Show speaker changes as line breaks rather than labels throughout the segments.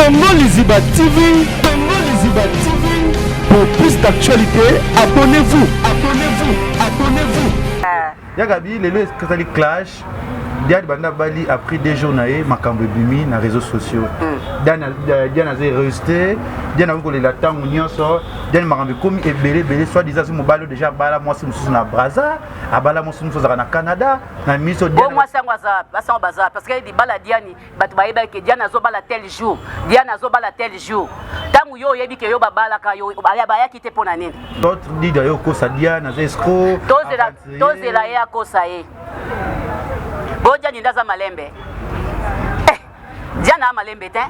Congo Liziba TV, Congo Liziba TV. Pour plus d'actualité, abonnez-vous, abonnez-vous, abonnez-vous. Ah. Yagabi,
lelo ezali clash. Diane banda bali après deux jours na ye makambo ebimi na réseaux sociaux. Hmm. Diane euh, Diane azali rejeté, Diane akoki kolela ntango nyonso, Diane makambo ekomi ebele ebele soit disant mobali déjà abala mwasi mosusu na Brazza, abala mwasi mosusu azalaka na Canada, na miso Diane. Mwasi yango aza, basi yango
baza parce que libala Diane bato bayebaki ke diana azobala tel jour diana azobala tel jour ntango yo oyebi ke yo babalaka yo bayaki te mpo na nini dida yo
okosa diana aza escro tozela
ye akosa ye bo diani nde aza malembe eh, diana a malembe te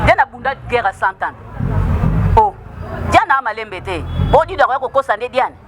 diana abunda guerre ya 100 ans o oh, diana a malembe te bo dida akoya kokosa nde diane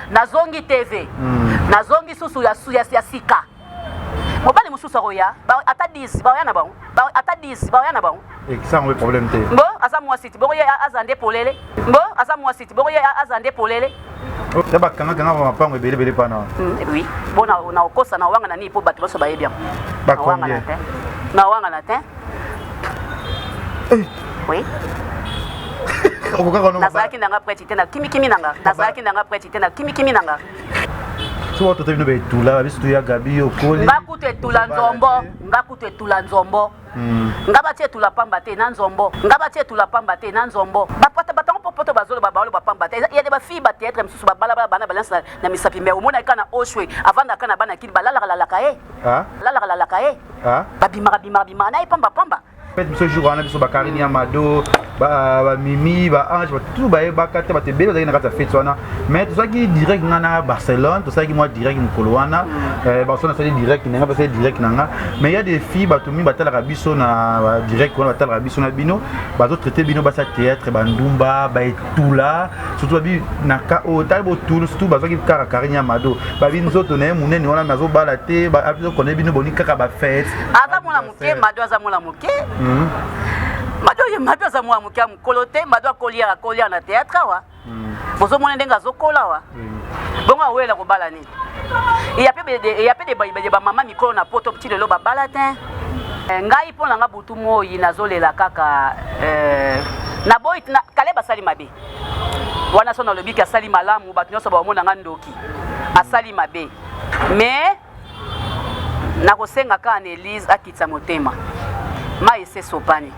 nazongi tv mm. nazongi susu ya, ya, ya sika mobali mosusu akoya ata 10 baoya na bango ata 10 baoya na bango ekisango problème
te mbo aza mwasi ti bokoye
aza nde polele mbo aza mwasi ti bokoye aza nde polele ya
bakangakanga ba mapango ebele ebele pana hmm, oui mpo
na okosa na owanga na nini mpo bato nyonso bayebi yango bakongye
na wanga
na te Eh. Oui. nazalaki nanga preti te na kimikimi nanga nazalaki nanga preti te na kimikimi nanga soki
watota bino baetula biso toya gabi okoli nga kutu etula nzombo
nga kutu etula nzombo hmm. nga bati etula pamba te na nzombo nga bati etula pamba te na nzombo bapata batango popoto bazoloba baoloba pamba te ya de bafille bateatre mosusu babalabala bana balance na misapi me omonaki ka na oshwe avandaka na bana kini balalaka lalaka ye lalaka lalaka ye babimaka bimaka bimaka na ye pamba pamba peut biso jour wana
biso bakarine ya mado bamimi baange batout bayebaka te bato ebele bazalaki na kati ya fete wana mais tozalaki direct nga na barcelone tosalaki mwa direct mokolo wana mm. eh, barcelone asali direct na nga basali direct na nga mais ya des filles bato mingi batalaka biso na direct wana batalaka biso na bino bazotraite bino basi ya théâtre bandumba tula surtout babi na ka o oh, tali bo tulu surtout bazwaki kaka Karine ya Mado babi nzoto na ye munene wana mais azobala te azo connaît bino boni kaka ba fête aza mwana moke
Mado aza mwana moke hmm. Mado ye Mado aza mwana moke mokolo te Mado akoliaka kolia na théâtre awa hmm. bozomona ndenge azokola awa hmm. bongo awela kobala nini eyape eyape de bayi de ba mama mikolo na poto ti lelo babala te eh, ngai mpo na nga butu moi nazolela kaka eh, na boyi na kale basali mabe wana so nalobi ke asali malamu bato nyonso baomona nga ndoki asali mabe mais nakosenga kaka na elise akitisa motema mai esesopani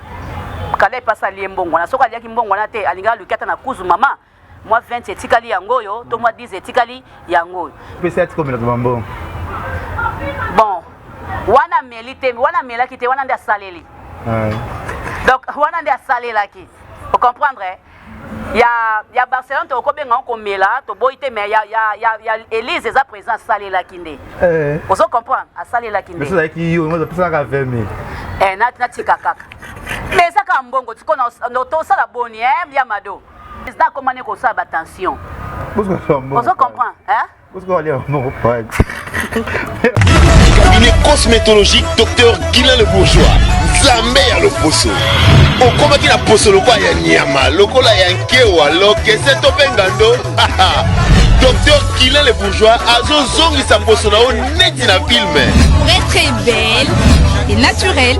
kale mpe asali ye mbongwana soki aliaki mbongwana te alingaki aluki ata na kuzu mama mwa 20 etikali yango oyo to mwa 10 etikali yango oyo pesa ya tikomelaka
bambongo
bon wana ameli te wana amelaki te wana nde asaleli donc wana nde asalelaki ocomprendre eh? ya, ya barcelone tokoki kobenga yango komela toboyi te mais ya, ya, ya, ya elise eza président asalelaki nde eh. ozo comprendre asalelaki nde ezalaki yo opesanaka
20 mille eh, natika
kaka mais eza kaka mbongo tosala boni eh, ya mado Président akoma ne kosala ba tension. Ozo
comprendre hein?
Cabinet cosmétologique docteur Guilain le bourgeois. Nzambe ya loposo. Okomaki na poso lokola ya nyama, lokola ya nkewa, lokese to mpe ngando. Docteur Guilain le bourgeois azozongisa poso na yo neti na filme. Très très
belle et naturelle.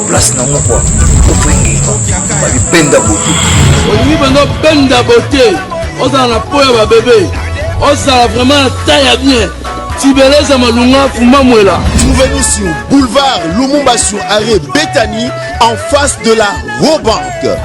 place na moko opengenga babi benda bote
olingi banda benda bote ozala na po ya babebe ozala vraiment na ta ya bien tibeleza malunga fumamwela trouvez-nous sur
boulevard lumumba sur arrêt bethany en face de la robanque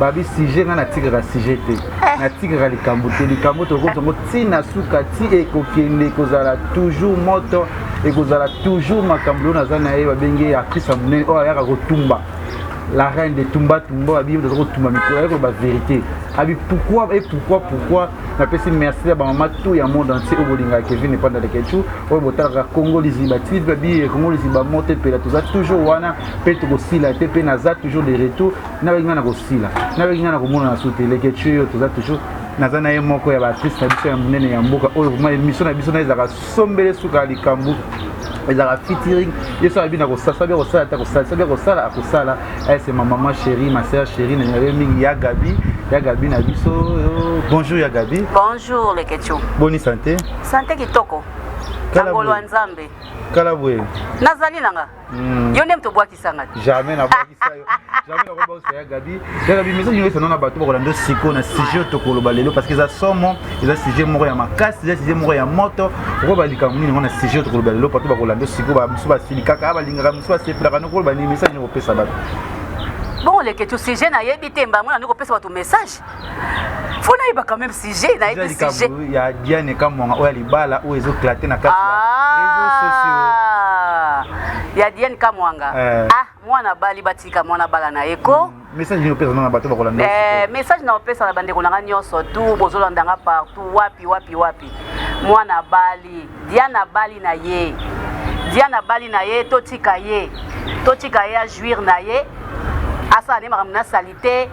babi sujet nga natikaka sujet te eh. natikaka likambo te likambo tokoki yango ti na suka ti ekokende ekozala toujours moto ekozala toujours makambo oyo naza na ye babengi ye akrista monene oyo ayaka kotumba la reine de tumba tumba babi oyo toza kotumba mikolo ayaki koloba verité abi pourquoi et pourquoi pourquoi napesi merci ya bamama tout ya monde entier oyo bolingaka kevin epanda lekechou oyo botalaka congo liziba ti babi congo liziba moto epela toza toujours wana mpe tokosila te mpe naza toujours de retour nabaki ngai na kosila nabaki ngai na komona na sute leketue yo toza toujours naza na ye moko ya baartiste na biso ya monene ya mboka oyo vraimen émission na biso na ezalaka sombele suka ya likambo ezalaka fitiring ye so abi na kosasa bia kosala te akosala so bia kosala akosala ese eh, ma maman chérie ma sœur chérie na nyabe mingi ya gabi ya gabi na biso oh, bonjour ya gabi bonjour leketio
boni santé
santé kitoko
kangolwa nzambe kala boye
nazali nanga
Hmm. Yo nde moto obwakisa nga. Jamais na bwakisa
yo. Jamais na bwakisa ya Gabi. Ya Gabi message nyo esana na bato bakola ndo siko na sujet to koloba lelo parce que eza somo, eza sujet moko ya makasi, eza sujet moko ya moto. Oko ba likambo nini ngona sujet to koloba lelo bato bakola ndo siko ba musu ba sili kaka ba lingaka musu ba sepelaka no koloba ni message nyo kopesa bato. Bon
lekethu sujet nayebi te mbango na niko pesa bato message. faut nayeba quand même sujet nayebi sujet ya diane
kamwanga oyo ya libala oyo ezoklate na kati ya ah! réseaux sociaux ya diane
kamwanga eh. ah mwana bali batika mwana bala na ye ko mm. message nini opesa na
bato bakolanda eh, message na opesa
na bandeko na nga nyonso tu bozolanda nga partout wapi wapi wapi mwana bali diana bali na ye diana bali na ye totika ye totika ye ajuire na ye asala nde makambo nasali te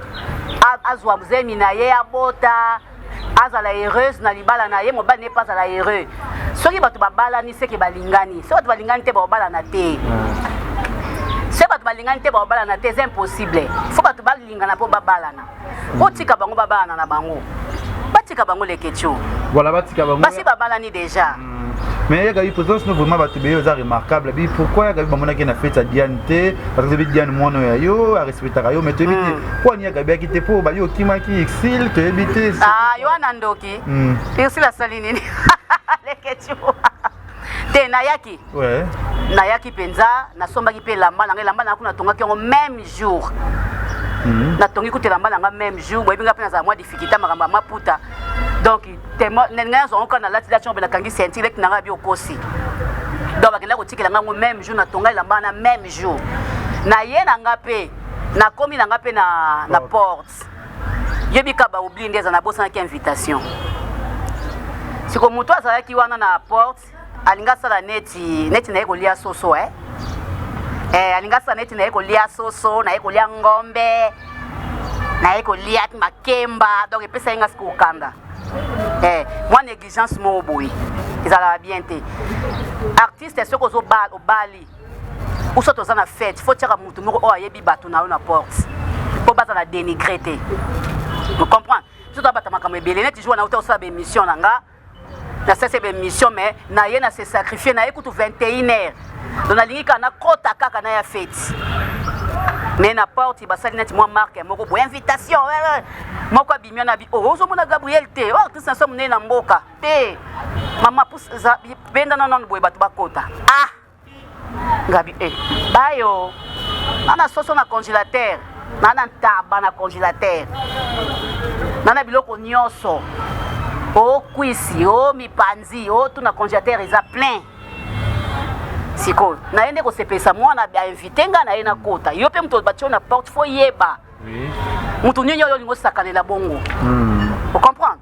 azwa zemi na ye abota azala heureuse na libala na ye mobali ne mpe azala heureux soki bato babalani seke balingani soki bato balingani te baobalana te soki bato balingani te baobalana te eza impossible fo bato balingana mpo babalana otika bango babalana na bango batika bango leketio voilà, batika bango
basi babalani deja
mais yaka bi
présence no vraiment bato beye oza remarquable bi pourquoi yaka bi bamonaki na fete ya diane te parce que bi diane mwana ya yo arespectaka yo mais toyebi te hmm. po ani yaka biaki te po bayo okimaki exil toyebi te ah, yo wana ndoki
hmm. ursule asali nini leketiwa te nayaki
nayaki mpenza
nasombaki mpe elamba na ngai elamba na yango natongaki yango même jour hmm. natongi kutu elamba na ngai même jour boyebi ngai mpe nazala mwa difficulté makambo ya maputa donc te ngai nazwa ngo kaka nalati lati ngo mpe nakangi senti leki na ngai abi okosi donc bakenda kotikela ngai ngo meme jour natonga elamba wana meme jour naye na ngai mpe nakomi na ngai mpe na porte yebi ka baoblie nde eza nabosanaki invitation siko moto azalaki wana na porte alingi asala neti neti naye kolia soso eh? Eh, alingi asala neti naye kolia soso naye kolia ngombe naye kolia makemba donc epesa ye nga sikoyo kanda eh, mwa négligence moko boye ezalaka bien te artiste soki ozobala obali uso toza na fete fo tiaka motu moko oyo ayebi bato na yo na porte mpo bazala dénigré te ocomprendre biso toza bato makambo ebele neti jour na uta osala baémission na nga na sese ba émission mais na ye na se sacrifier na ye kutu 21 heures donc nalingi kaka nakota kaka na ya feti me na porte basali neti mwa marke moko boye invitation eh, eh. moko abimi wana abi oh, ozomona gabriel te o oh, artiste na so monene na mboka te mama bendana nano boye bato bakota ah Ngabi eh bayo nana soso na congélateur nana ntaba na congélateur nana biloko nyonso o kwisi o mipanzi o tuna congélateur eza plein sikoyo naye nde kosepelisa mwana ainvite ngai na ye nakota yo mpe moto batio na porte fo yeba moto nini oyo olingi osakanela bongo hmm. ocomprendre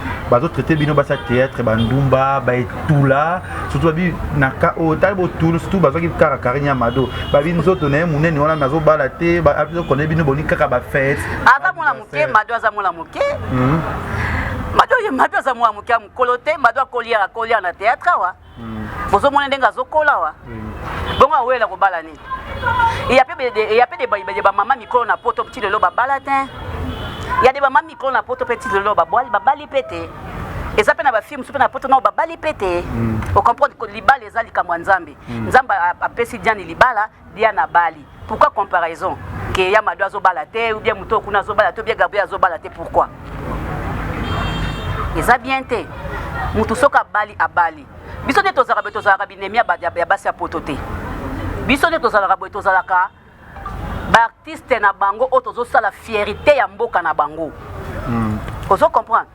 bazo traite bino basi ya théâtre bandumba baetula surtout babi na ka oyo tali botulu surtout bazwaki kaka karine ya mado babi nzoto na ye monene wana me azobala te azokone bino boni kaka bafete aza mwana moke
mado aza mwana moke hmm. mado ye mado aza mwana moke ya mokolo te mado akoliaka akoliaka na théâtre awa bozo mona ndenge azo kola wa bongo awela ko bala nini il y a peu de il y a peu de de ba mama mikolo na poto petit lelo ba bala te il y a des mama mikolo na poto petit lelo ba bali ba bali pete eza pe na ba films pe na poto na ba bali pete mm. au comprendre que libala eza likambo ya nzambe mm. nzambe apesi diane libala Diane abali pourquoi comparaison que ya Mado azobala te ou bien moto kuna azobala te ou bien Gabriel azobala te pourquoi eza bien te moto soki abali abali biso nde tozalaka boye tozalaka binemi ya basi ya poto te biso nde tozalaka boye tozalaka baartiste na bango oyo tozosala fierité ya mboka na bango hmm. ozo comprendre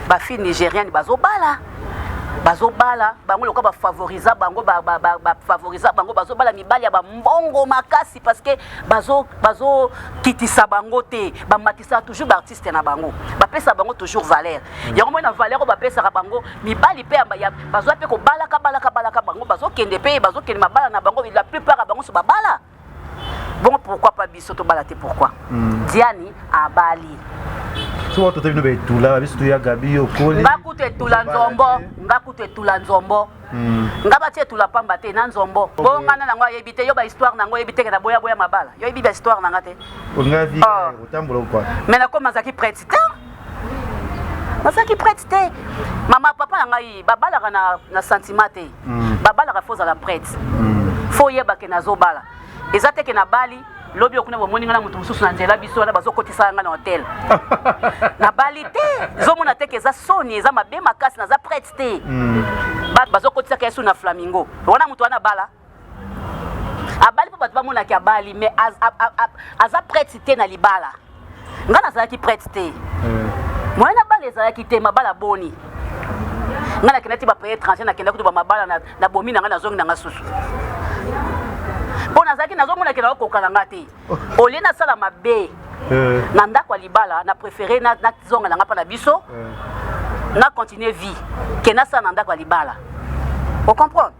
ba fille nigeriane bazobala bazobala bango lokola bafavorisa bango bafavorisa bango bazobala mibali ya bambongo makasi parceke bazokitisa bango te bamatisa toujours baartiste na bango bapesa bango toujours valeur mm. yango moi na valeur oyo bapesaka bango mibali mpe bazwa mpe kobalaka balaka balaka bango bazokende mpe bazokende mabala na bango la plupart ya bango so babala bongo pourquoi pas biso tobala te pourquoi mm. diani abali so
watu tebino betula biso tuya gabi okoli nga kutu etula nzombo
nga kutu etula nzombo hmm. nga bati etula pamba te na nzombo bo nga na nango ayebi te yo ba histoire nango oyebi te kena boya boya mabala yo yebi ba histoire nanga te nga vie ah.
otambola kwa mais nakoma azalaki prete
te nazalaki prête te mama papa na ngai babalaka na, na sentiment te mm. babalaka fo ozala prête mm. fo oyeba ke nazobala eza te ke nabali lobi okuna bomoni ngai na moto mosusu na nzela biso wana bazokotisa ngai na hotel nabali te ezomona te ke eza soni eza mabe makasi naza prête te mm. bazokotisaka yesu na flamingo wana moto wana bala abali mpo bato bamonaki abali mais aza prete te na libala ngai nazalaki prete te hmm. moyen na bala ezalaki te mabala boni ngai nakendaki bapaye étranger nakenda kutu bamabala na bomi na ngai nazongi na ngai susu mpo nazalaki nazomona ke naokoka na ngai te olie nasala mabe eh. na ndako ya libala na préféré nazonga na ngai mpa na biso eh. na continuer vie ke nasala na ndako ya libala ocomprendre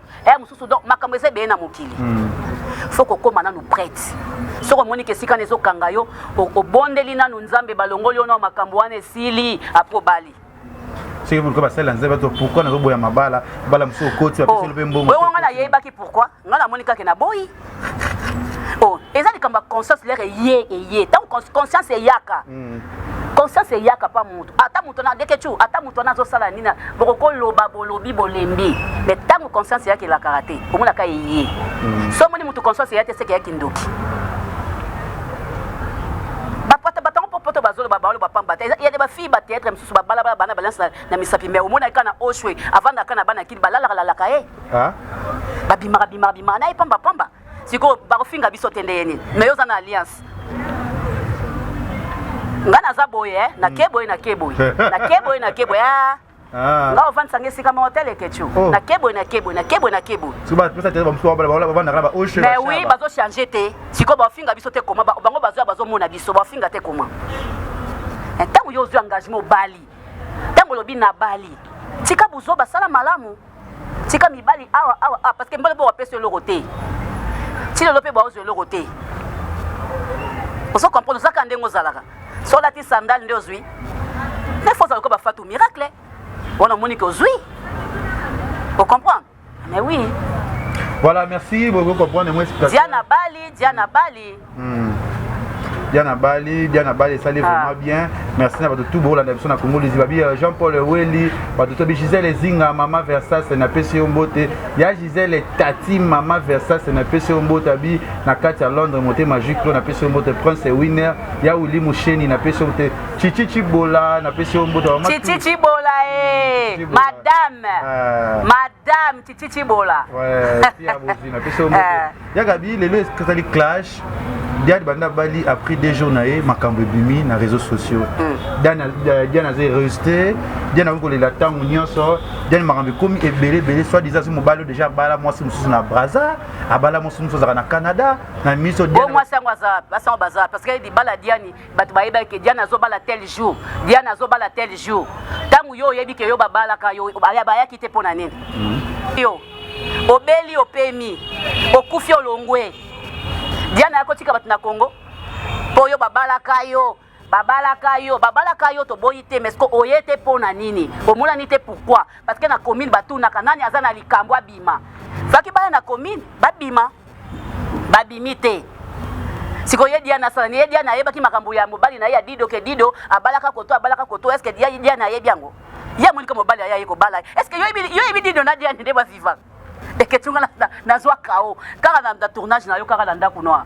eh mususu donc makambo eza ebele na mokili mm. faut kokoma nanu prete soki omoni ke esika na ezokanga yo obondeli nanu nzambe balongoli yo na makambo wana esili apres obali soki moluka
basalela nzambe to pourkui nazoboya mabala bala mosusu okoti bapeseli mpe mbongo nga nayebaki pourkui
nga namoni kake naboyi oh eza likambo ya conscience lere eye eye ntango conscience eyaka mm. conscience eyaka mpa moto ata moto na dekecu ata moto wana azosala nini bokokoloba bolobi bolembi me ntango conscience eyaka elakaka te omonaka eye mm. so omoni moto conscience eya te seke eyaki ndoki poto bazoloba baloba pamba te ya de bafille bateatre mosusu babalabala bana balance na misapi me omonaki kaka na oshwe avandaka na bana kini balalakalaka ye eh. babimaka bimaka bimaka na ye pamba pamba sikoyo bakofinga biso te nde ye nini me yo oza na alliance nga naza boye eh, nake boye nake boye nake boye nake boye ah. Ah. nga ofandisa nga esika moko te leketio oh. nake boye nake boye nake boye nake boye
mais oui bazochange
te sikoyo bafinga biso te koma bango bazoya bazomona biso bafinga te koma ntango eh, yo ozwi engagement obali ntango olobi nabali tika buzoba sala malamu tika mibali awa awa awa parce que mbala mpe bapesa eloko te ti lelo mpe baozwa eloko te ozo comprendre ozaka ndenge ozalaka so olati sandale nde ozwi nde fo ozala ko bafatu miracle wana omoni ke ozwi ocomprendre mais oui voilà
merci bokoki comprendre moi diana bali diana
bali Hmm.
Diana Bali, Diana Bali esali ah. vraiment bien. Merci na bato tout bolanda biso na Congo liziba bi euh, Jean Paul Weli, bato to bi Gisèle Zinga, Mama Versace na pesi yo mbote. Ya Gisèle Tati, Mama Versace na pesi yo mbote abi na kati ya Londres mote magique na pesi yo mbote Prince Winner, ya Willy Musheni na pesi yo mbote. Chichi Chibola na pesi yo mbote. Chichi Chibola
eh, madame. Euh. Madame Chichi Chibola. Ouais, pia
bozina pesi yo mbote. Euh. ya gabi lelo ezali clash diane banda bali après deux jours na ye makambo ebimi na réseaux sociaux hmm. euh, diane aza heureuse te diane akoki kolela ntango nyonso diane makambo ekomi ebele ebele soit disant soki mobali oyo déjà abala mwasi mosusu na braza abala mwasi mosusu azalaka na canada na miso mwasi yango
baza parce que libala diane bato bayebaki ke diana azobala tel jour diana azobala tel jour ntango yo oyebi ke yo babalaka yo bayaki te mpo na nini hmm. yo obeli opemi okufi olongwe diana yakotika bato na congo mpo yo babalaka yo babalaka yo babalaka yo toboyi te mais ko oye te mpo na nini omonani te pourkui parce que na commune batunaka nani aza na likambo abima soki baya na commune babima babimi te sikoyo ye diana asala ye diana ayebaki makambo ya mobali na ye ya dido ke dido abalaka koto abalaka koto eske diana ayebi yango ye amonika mobali aye aye kobala eske yo yebi dido na diana nde baviva eketunga nazwa kao kaka na tournage na yo kaka na ndako noir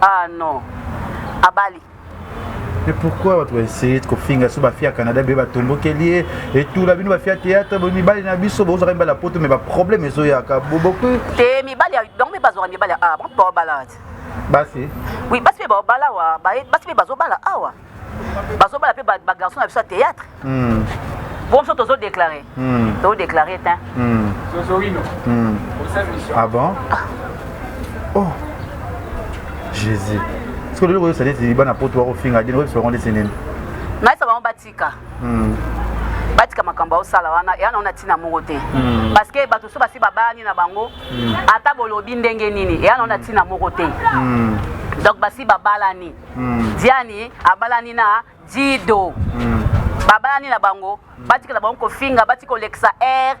Ah non. Abali.
Mais pourquoi bato baessaye kofinga so bafia canada be batombokeli ye etula bino bafia théâtre bo mibali na biso bozwaka mibali ya poto mais baproblème ezoyaka boboki te mibali
bango mpe bazwaka mibali ya awa bango mpe baobala basi
oui basi mpe
baobala awa basi mpe bazobala awa bazobala mpe bagarçon na biso ya théâtre hmm. bo biso tozodeklare hmm. tozodeklare te hmm.
ah bon ah. oh jésus soki lelo koyebisa neti bana poto bakofinga dino oyebisa bango ndeti nini nayebisa bango
batika batika makambo aosala wana eya naona ntina moko te hmm. parce que bato so basi babayani na bango hmm. ata bolobi ndenge nini eya naona ntina moko te hmm. donc basi babalani mm. diani abalani na dido mm. babalani na bango mm. batikela bango kofinga bati kolekisa air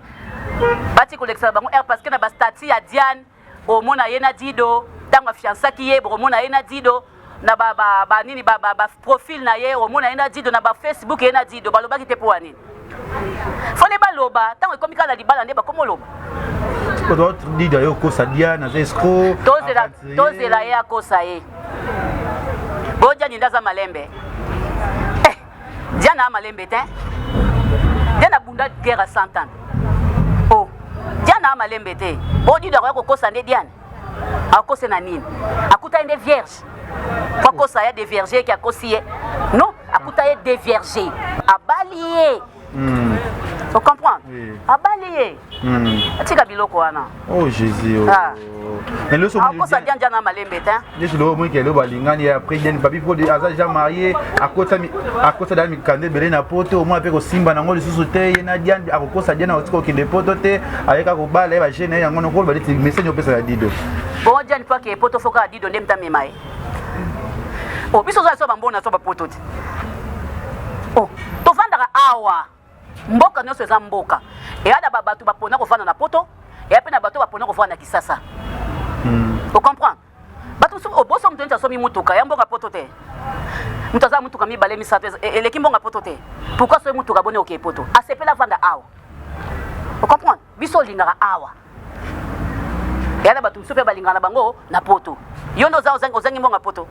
bati kolekisa na bango air parce que na bastati ya diane omona ye na dido ntango afiansaki ye bokomona ye na dido na ba, ba, ba nini ba, ba, ba profil na ye omona ye na dido na ba facebook ye na dido balobaki te mpo ya nini fone baloba ntango ekomi kaka na libala nde bakomi oloba
dida yo okosa diane aza escro tozela
ye akosa ye bojani nde aza malembe eh, diana a malembe te diana abunda guerre ya 100 ans o oh, diana a malembe te bodida akoya kokosa nde diane akose na nini akutani nde vierge po akosa ya devierge eke akosi ye non akuta ye devierge abali ye mm. ocomprendre oui. abali ye mm. atika biloko wana oh, jésus
oh. ah. akosa dianja na malembe
te yesu lelo omoni kelelo
balingani ya preden babi mpo aza jean marie akosa da mikanda ebele na poto omona mpe kosimba nango lisusu te ye na diane akokosa diane akotika kokende poto te ayeka kobala ye bagene na ye yango nokolo baleti message opesa ya dido bongo diane mpo akee
poto foka ya dido nde mtamema ye o oh, biso oza so bambona so bapoto te o oh, tofandaka awa Mboka nionso eza mboka. Eya na ba bato ba pona kovanda na poto, eya pe na bato ba pona kovanda na Kisasa. Hmm. O comprends? Bato mosusu oboso moto neti asomi motuka ya mbongo ya poto te. Moto aza motuka mibale misato e, eleki mbongo ya poto te. Pourquoi asomi motuka boni okei poto? Asepela vanda awa. O comprends? Biso olingaka awa. Eya na bato mosusu pe balingaka na bango na poto. Yo nde ozangi mbongo ya poto.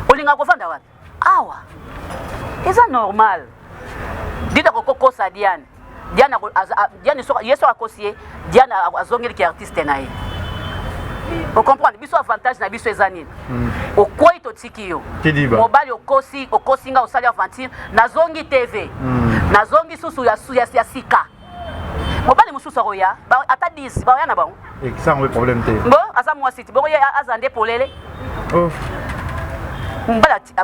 Olingaka kovanda wapi? awa eza normal dida kokokosa diane diane diane soka ye soka akosi ye diane azongeli ki artiste na ye ocomprendre biso avantage na biso eza nini hmm. okwei totiki yo mobali okosi okosi nga osali aventure nazongi tv hmm. nazongi susu ya sika mobali mosusu akoya ata 10 baoya na bango esango problème te
bo aza mwasi ti bongo
ye aza nde polele oh.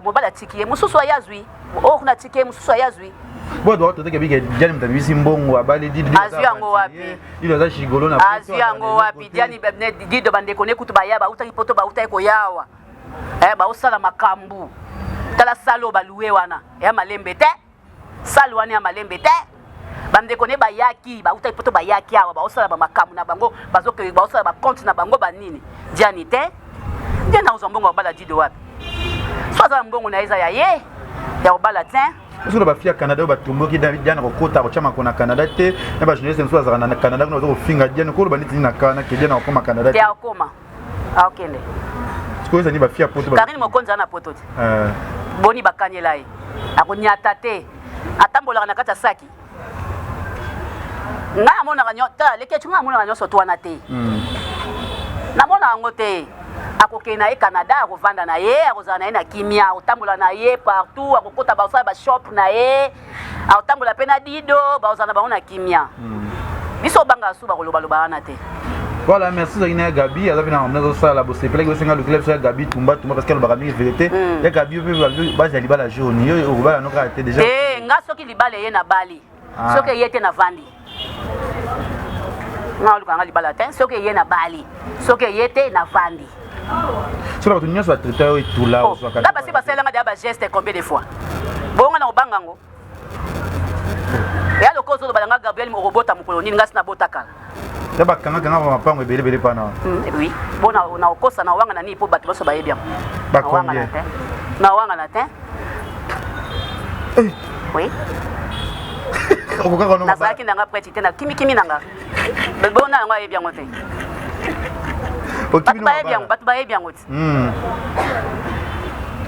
mobali atiki ye mosusu aya azwi oyo oh, kuna atiki ye mosusu aya azwi
boye doka toteke bike diani moto abimisi mbongo abali azwi yango wapi
ilo aza shigolo na
azwi yango wapi
diani dido bandeko ne kutu baya bautaki poto bautaki koyawa eh, baosala makambo tala salo balue wana ya malembe te Salle wana ya malembe te. bandeko ne bayaki bautaki poto bayaki awa baosala bamakambo na bango bazokende baosala bakonte na bango banini diani te nde nakozwa mbongo ya kobala dido wapi so aza na mbongo na ye eza ya ye ya kobala te biso na bafi ya canada
oyo batomboki diana kokota kotya mako na canada te na bajournaliste mosusu azalaka na canada kuna baza kofinga diana koloba neti nini na kana ke diana akoma canada te akoma
akende sikoyo
ezali bafia poto karine mokonzi ana poto te
eh. boni bakanyela ye akonyata te atambolaka na kati ya saki ngai amonaka nyota lekeci ngai amonaka nyonso to wana te hmm. namona yango te akokende na ye canada akovanda na ye akozala na ye na kimia akotambola na ye partout akokota basala bashop na ye akotambola mpe na dido bakozala na bango na kimia hmm. biso obanga su bakolobaloba wana te voilà merci
ozalaki na ya gabi aza mpe na mamna azosala bosepelaki bosenga lukila biso ya gabi tumba tumba parce que alobaka mingi verité hmm. ya gabi yo mpe bazi ya libala jaune yo okobala no kaka te déjà eh, nga soki libala
eye nabali ah. soki eye te navandi nga oluka nga libala te soki eye na bali soki eye te na vandi
soki bato nyonso batraite yo etula oh, nga basi basalelanga deya
bageste combien de fois bonga na kobanga yango ya lokola ozoloba na nga gabriel okobota mokolo nini ngasi nabota kala ya bakangakanga
ba mapango ebele ebele pana hmm, eh oui mpo
na okosa na owanga na nini mpo bato nyonso bayebi yango
nawangana
te Eh. Oui. okokaka nazalaki nanga preti te na kimikimi nanga bona yango ayebi yango te bato bayebi yango te hmm.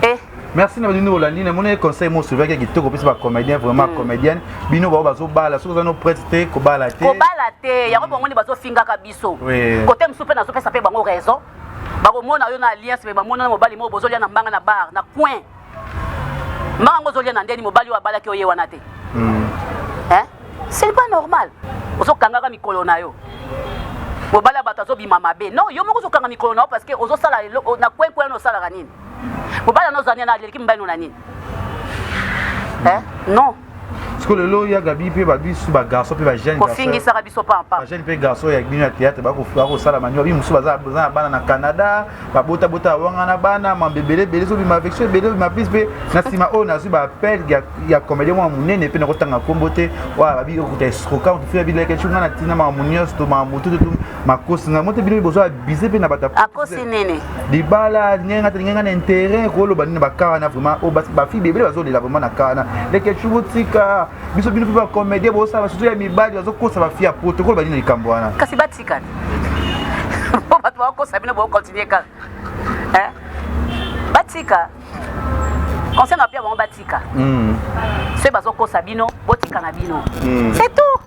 eh. merci na bino olandi na moni conseil mo souvaki ya kitoko opesi bacomédien vraiment hmm. comédienne bino bao bazobala soki oza no prete te kobala te kobala te yango bomoni bazofingaka
biso kote mosusu mpe nazopesa mpe bango raison bakomona yo na alliance me bamona na mobali moko bozolia na mbanga na bar na coin mbanga yango ozolia na ndeni mobali oyo abalaki oye wana te hmm. eh? c'est pas normal ozokangaka mikolo na yo mobali ya bato azobima mabe non yo moko ozokanga mikolo na yo parce que ozosala na coin coin osalaka nini mobali yango ozania na aleleki mobali no na nini eh? non sikoyo lelo
ya gabi mpe babisu bagarçon mpe bajeunkofingisaka biso
pampajeune mpe garçon ya
bino ya théâtre bakosala manyo babi mosusu baza na bana na canada babotabota awangana bana mambe ebele ebele ezobima affection ebele obima plus mpe na nsima oyo nazwi baappel ya comédien mwa monene mpe nakotanga nkombo te wana babi okuta esroka otufi babilakeci ngai na ntina makambo nyonso to makambo tututu makosi ngai mote bino bozwa abuse mpe na bato
libala
lingenga te lingenga na intérêt koloba nini bakana vraiment oyo oh, bafibi ebele bazolela vraiment na kana leke cubo tika biso bino mpe bacomédien bosala basusu ya mibali bazokosa bafi ya poto koloba nini likambo wana kasi batikana
mpo bato bakokosa bino bokontinue kaka eh? batika conseil na pia bango batika hmm. soki bazokosa bino botika na bino hmm. c'est tout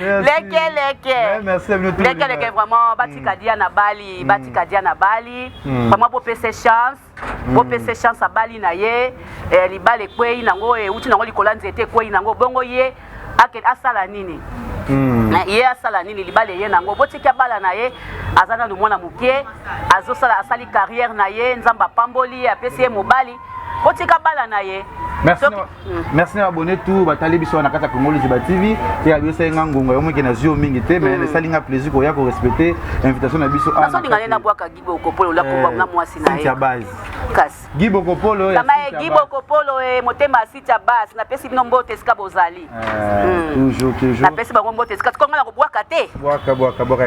leke leke leke leke vraiment batika dia na bali batika dia na bali vraiment bopese chance bopese chance abali na ye eh, libala ekwei nango euti nango likolo ya nzete ekwei nango bongo ye asala nini hmm. eh, ye asala nini libala eye nango botiki abala na ye aza nanu mwana moke azosala asali carrière na ye nzambe apamboli apesi ye mobali botika bala na ye merci na
merci na abonné tout batali biso wana kati ya Congo Liziba TV te ya biso nga ngonga yo moke na zio mingi te mais mm. esali nga plaisir ko ya ko respecter invitation na biso ana so dingane na bwaka
gibo ko polo la ko eh, na mwasi na ye ya base kasi
gibo ko polo ya kama gibo ko
polo e motema sita base na pesi bino mbote sika bozali
napesi bango mbote
kasi konga na kobwaka te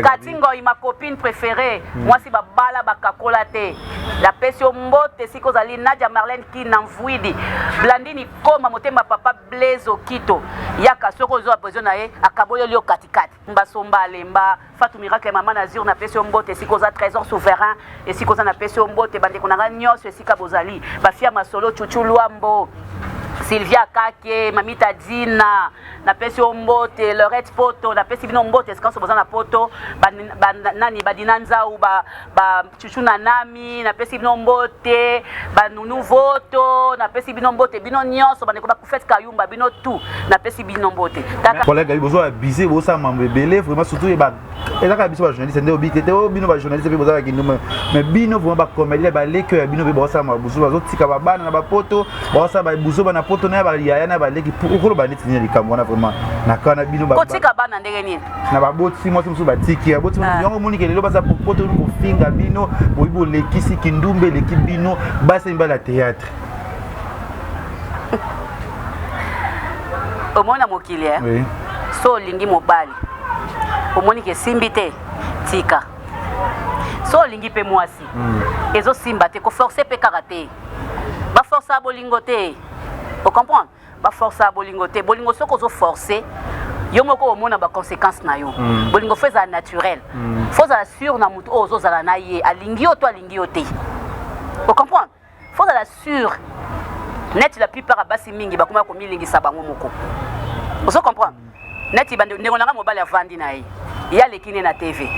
kati
ngoi ma
copine préférée hmm. mwasi babala bakakola te napesi yo mbote sika ozali nadia marlene kina mvuidi blandini koma motema papa blaise okito yaka soki ozwa besoin na ye akaboleli yo katikati Mba somba alemba Fatou miracle maman Nazur na pesi mbote esika oza trésor souverain esika oza na pesi mbote bandeko na nga nyonso esika bozali bafia masolo chuchu luambo Sylvia Kake, Mamita Dina, na pesi ombote, Lorette Poto, na pesi bino mbote, eskanso boza na Poto, ba, ba, nani, badina nzau, ba, ba, chuchu na nami napesi bino mbote banunu voto napesi bino mbote bino nyonso bandeko bakufete kayumba bino tu napesi bino mbote kolega bozo
abuse bosala mambo ebele vraiment surtout ye ezaka biso bajournaliste nde obi te te oyo oh, bino bajournaliste mpe bozalaka kinduma mais bino vraiment bacomédie baleki ya bino mpe baosala mabuzo bazotika babana na bapoto baosala babuzo bana poto na ya bayaya na baleki okoloba neti nini likambo wana vraiment na kana bino kotika bana ndenge nini
na baboti mwasi
mosusu batiki baboti ah. yango omoni kelelo baza poto kofinga bino boyi bolekisi kindumba eleki bino basi mibala théâtre
omona mokili e oui. so
olingi
mobali omoni ke esimbi te tika so olingi mpe mwasi mm. ezosimba te koforce mpe kaka te baforce ya bolingo te ocomprendre Ba forcaka bolingo te. Bolingo soki ozo forcer yo moko omona ba consequences na yo. Mm. Bolingo faut ezala naturel. Mm. Faut ezala sur na moto oyo ozo zala na ye. Alingi yo to alingi yo te. Vous comprenez? Faut ezala sur. Neti la plupart basi mingi bakoma komilingisa bango moko. Vous comprenez? Neti bande ndeko na nga mobali avandi na ye. Ye aleki ne na TV.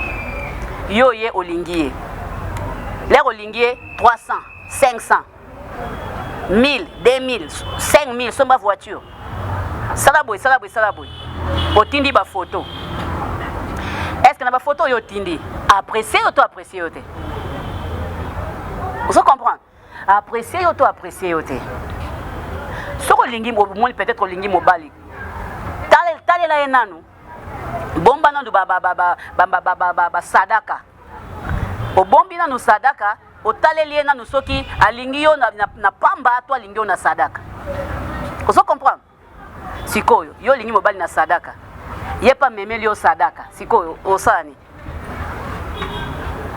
Yo ye olingi ye. Lero olingi ye 300, 500. 1000 2000 5000 somba voiture sala boye sala boye sala boye otindi bafoto estce na bafoto oyo otindi apprécie yo to apprécie yo te ozo comprendre apprécie yo to apprécie yo te soki olingi omoni peut-être olingi mobali talela ye nanu bomba nanu basadaka obombi nanu sadaka otaleli ye nanu soki alingi yo na, na, na pamba to alingi yo na sadaka ozo comprendre sikoyo yo olingi mobali na sadaka ye pa memeli yo sadaka sikoyo osani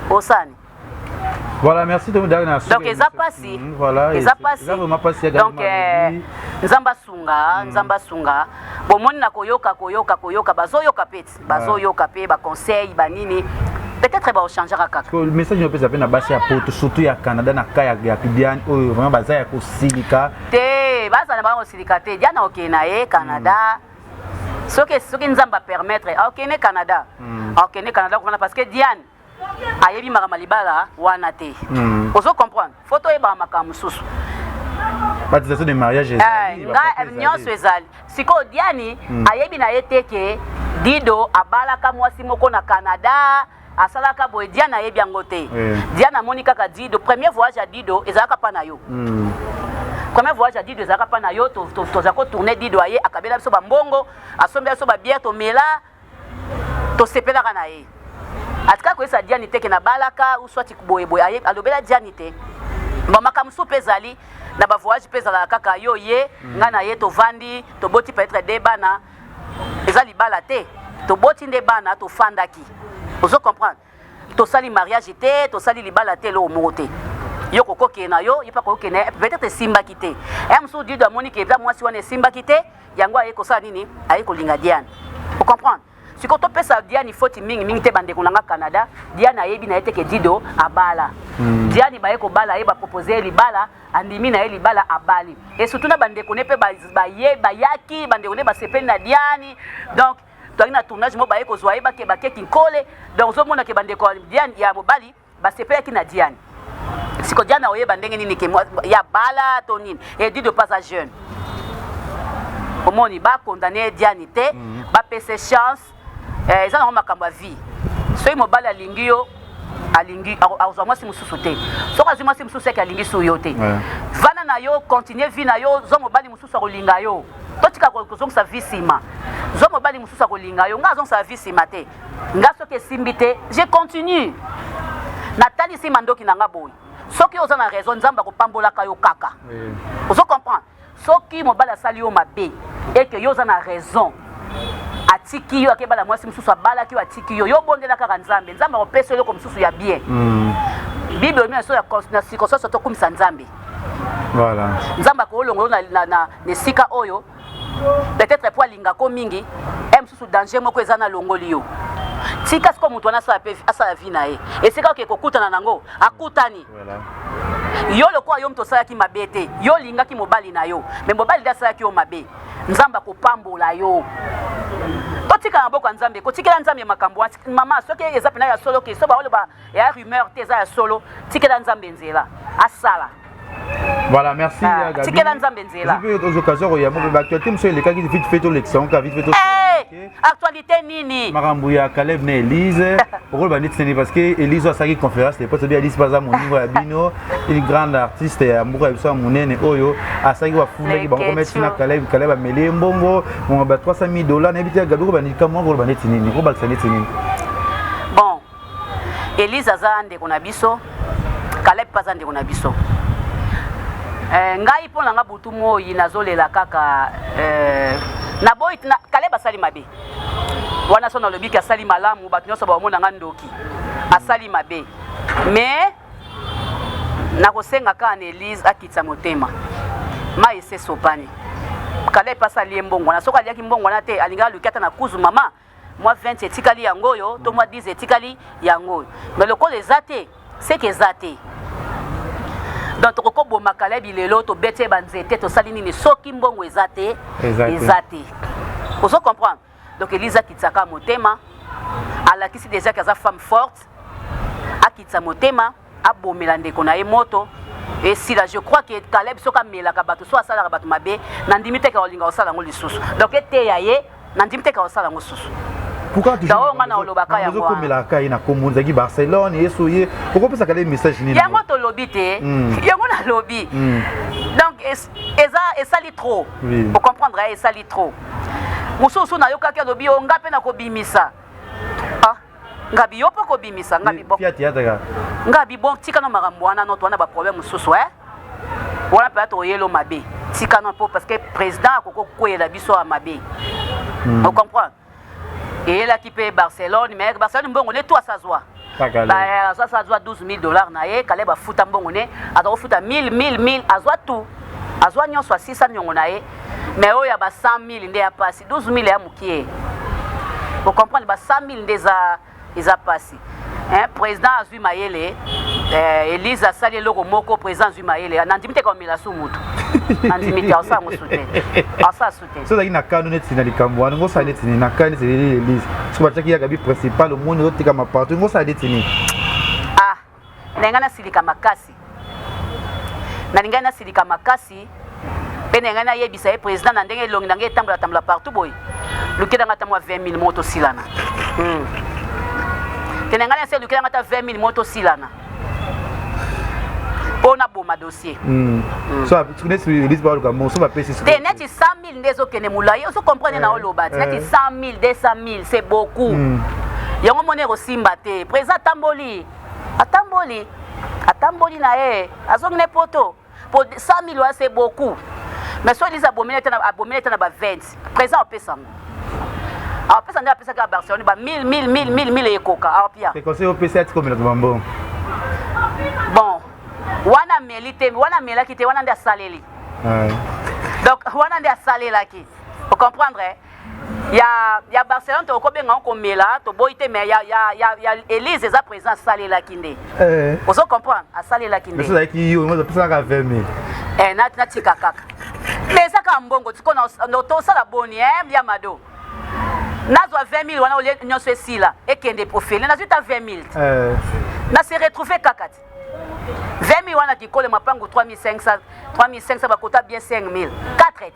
osani Voilà, merci de me donner la Donc, ils ont passé. Mm,
voilà, ils ont passé.
Ils ont
passé. Donc, euh, nzamba sunga, mm. nzamba sunga. Bon, mon na koyoka, koyoka, koyoka, bazo yoka peti. bazoyoka pe ba conseil ba nini peut-être ba changera kaka que message no pesa pe na
basi ya poto surtout ya Canada na ka ya ya Diane oyo vraiment baza ya kosilika te baza
na ba kosilika te Diane okende na ye Canada mm. soki soki nzamba permettre okende Canada mm. okende Canada kuna parce que Diane ayebi makambo libala wana te hmm. ozo comprendre fo toyebaka makambo mosusu
batisation de mariage ezali eh, eh, nyonso
ezali sikoyo diani hmm. ayebi na ye te ke dido abalaka mwasi moko na canada asalaka boye diana ayebi yango te eh. diana amoni kaka dido premier voyage ya dido ezalaka mpa na yo hmm. premier voyage ya dido ezalaka mpa na yo toza kotourne dido aye akabela biso bambongo asombela biso babiere tomela tosepelaka na ye atika koyesa diani te ke nabalaka ou soit boye boye aye alobela diani te ba makambo mosusu mpe ezali na ba voyage mpe ezalaka kaka yo ye mm. ngai na ye tovandi toboti peut-être de bana eza libala te toboti nde bana tofandaki ozo comprendre tosali mariage te tosali libala te eloko moko te yo kokokende na yo ye mpe akokende peut-être esimbaki te ya mosusu dido amoni ke eza mwasi wana esimbaki te yango aye kosala nini aye kolinga diane ocomprendre sikoyo topesa diane foti mingi mingi te bandeko na nga canada diane ayebi na ye te ke dido abala hmm. diane baye kobala ye bapropose ye libala andimi na ye libala abali esutu na bandeko ne mpe bayaki bandeko ne basepeli na diane donc toyaki na tournage moko baye kozwa ye bakeba ke kinkole donc ozomona ke bandeko ya diane ya mobali basepelaki na diane siko diane akoyeba ndenge nini ke ya bala to nini edi de pas a jeune omoni bakondane diane te mhm. bapese chance eh, eza nango makambo ya vie soki mobali alingi yo alingi akozwa mwasi mosusu te soki azwi mwasi mosusu eke alingisi yo te vana na yo continue vie na yo zwa mobali mosusu akolinga yo totika kozongisa vie nsima zwa mobali mosusu akolinga yo ngai azongisaka vie nsima te ngai soki esimbi te je continue natalisi mandoki na ngai boye soki oza na raison nzambe akopambolaka yo kaka ozo comprendre soki mobali asali yo mabe eke yo oza na raison atiki yo akebala mwasi mosusu abalaki yo atiki yo yo obondela kaka nzambe nzambe akopesa yo eloko mosusu ya bien mm. bible oyo na circonstance tokumisa nzambe voilà.
nzambe akolongo
yo na, na, na, Na esika oyo, peut-etre mpo alingaka yo mingi, heure mosusu danger moko eza na longoli yo. Tika sikoyo moto wana asala mpe asala vie na ye, esika oke kokutana na yango akutani. Yo lokola yo moto osalaki mabe te, yo olingaki mobali na yo, me mobali nde asalaki yo mabe, Nzambe akopambola yo. Totika na maboko ya Nzambe, kotikela Nzambe makambo wana. Mama, soki eza mpena ya solo ke so baoloba ya rumeur te eza ya solo, tikela Nzambe nzela asala. Voilà,
merci. Ah, Gabi. Tikela Nzambe nzela.
Puis aux occasions où il y a beaucoup
d'actualité, monsieur il est quand il vite fait tout l'excellent, vite fait tout. Eh, actualité nini?
Makambo ya Caleb na
Elise, rôle ba nit seni parce que Elise a saki conférence les potes bien Elise baza mon niveau ya bino, une grande artiste ya mbuka ya biso munene oyo asaki wa funda ki bango mettre na Caleb, Caleb ameli mbongo, on ba 300 000 dollars na bita Gabi ko ba nit kama rôle ba nit nini, ko ba nit nini.
Elise aza ndeko na biso, Caleb mpe aza ndeko na biso. Eh, ngai mpo na nga butu moi nazolela kaka eh, naboyi na, Caleb asali mabe wana so nalobi ke asali malamu bato nyonso baomona nga ndoki asali mabe mais nakosenga kaka na elise akitisa motema mai esesopani Caleb mpe asali ye mbongwana soki aliaki mbongwana te alingaki aluki ata na kuzu mama mwa 20 etikali yango oyo to mwa 10 etikali yango oyo me lokola eza te seke eza te donc tokoki koboma kalebi lelo tobeti ye banzete tosali nini soki mbongo eza te eza te ozo comprendre donc eliza akitisaka motema alakisi déjà ke aza femme forte akitisa motema abomela ndeko na ye moto esila je crois que caleb soki amelaka bato so asalaka bato mabe nandimi teke olinga kosala yango lisusu donc eteya ye nandimi teke kosala yango lisusu yango
nga na olobaka yangokomelaka
ye na kombo
nzaki barcelone yesu ye okopesaka le message nini yango tolobi te
hmm. yango nalobi hmm. donc eza esali trop ocomprendre ye esali trop mosusu nayokaki alobi yo nga mpe nakobimisa ngabi yo mpe okobimisa ngabi bo fiati yataka ngabi bo tika no makambo wana no towana baproblème mosusu e wana mpenza toyelo mabe tika no mpo parce que président akoki kokweyela biso ya mabe hmm. ocomprendre eyelaki mpe barcelone mais barcelone mbongo ne to asazwa asasa azwa 12 000 dollars na ye kaleba afuta mbongo ne aza kofuta 1000 1000 1000 azwa tout azwa nyonso asisa niongo na ye mais oyo ya ba 100 000 nde ya pasi 12000 ya mukie bo comprendre ba 100000 nde eza eza pasi hein président azui mayele eh, Elise asali eloko moko président azui mayele nandimi te komela su mutu nandimi te asala mosu te asala su te so ozalaki na kano neti na
likambo wana ngosala neti nini na kano neti Elise soki batiaki ya gabi principal omoni ozotikama partout ngosala neti nini
Nalinga nasilika makasi nalinga nasilika makasi mpe nalinga nayebisa ye president na ndenge elongi na ngai etambola tambola partout boye lukela ngai ata mwa 20 mille moko tosilana hmm. te na ngai nase lukela ngai ata 20 mille moko tosilana mpo naboma dossier
hmm. Hmm. te neti sami 000 nde
ezokende molai ozo comprendre na oloba ti neti 100000 200000 c'est beaucoup hmm. yango moni ekosimba te président atamboli atamboli atamboli na ye azongi ne poto po 100000 wana c'est beaucoup mais soki liza abomeli ete abomeli ete na ba 20 président apesa yango apesa nde apesaki ya barcelone ba 1000 1000 1000 1000 ekoka apia ekose opesa ati komelaka
bambongo
bon wana ameli te wana amelaki te wana nde asaleli donc wana nde asalelaki ocomprendre eh? ya, ya barcelone tokobenga yango komela toboyi te mais ya, ya, ya, ya elise eza président asalelaki nde eh. ozo comprendre asalelaki ndeezalaki yo apesaka
20 mil eh, natika
kaka mais eza kaka mbongo tikona tosala boni eh, ya mado nazwa 20 mil wana olie nyonso esila ekende profile nazwi ta 20 mil eh. na se retrouve kaka te 20 wana kikole mapangu 3500 3500 bakota bien 5000 4 et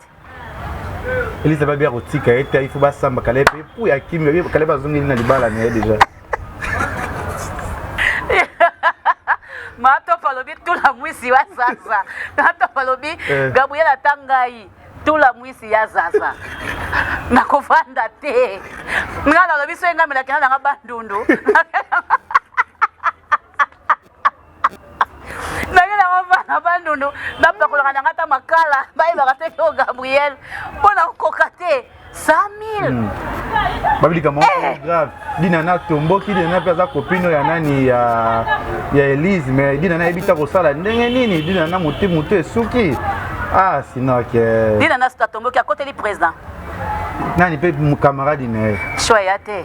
elisa babi akotika ye te ifo basamba kala mpe mpo ya kimi kala bazongeli na libala na ye deja
matopa alobi tula mwisi wa sasa matopa alobi eh. gabriel ata ngai tula mwisi ya zaza nakofanda te nga nalobi so engamelaki na nanga bandundu naye nango bana bandundu bapakolaka na nga ta makala bayebaka te kio gabriel mpo na kokoka te 100000 hmm.
babilika moko eh! grave dina na tomboki dina na mpe aza kopino ya nani ya ya elise mais dina na yebi ta kosala ndenge nini dina na motu motu esuki ah sinon ke dina na suta tomboki
akoteli président
nani mpe camarade na ye
choix ya te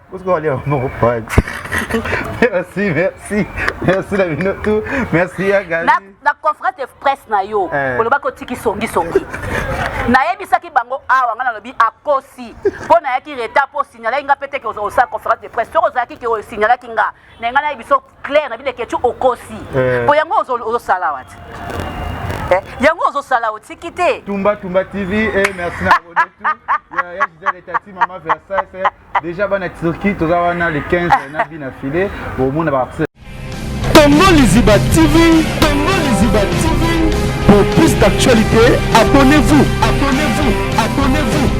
Parce qu'on va lire mon
pote. merci, merci. Merci la bino tout. Merci ya Gabi. Na, na conférence de
presse na yo. Eh. Oloba ko tiki songi songi. nayebisaki bango awa ngai nalobi akosi mpo nayaki reta mpo osignalaki nga mpe teke osala conférence de presse soki ozalaki ke osignalaki nga na ngai nayebi so claire na bino eketu okosi eh. mpo yango ozosala wati eh, yango ozosala otiki te tumba tumba tv
eh, merci na ya gisele tati mama versace Deja bana Turquie toza wana le 15 na bina filet bomona ba Tongo
Liziba TV, Tongo Liziba TV. Pour plus d'actualités, abonnez-vous. Abonnez-vous. Abonnez-vous.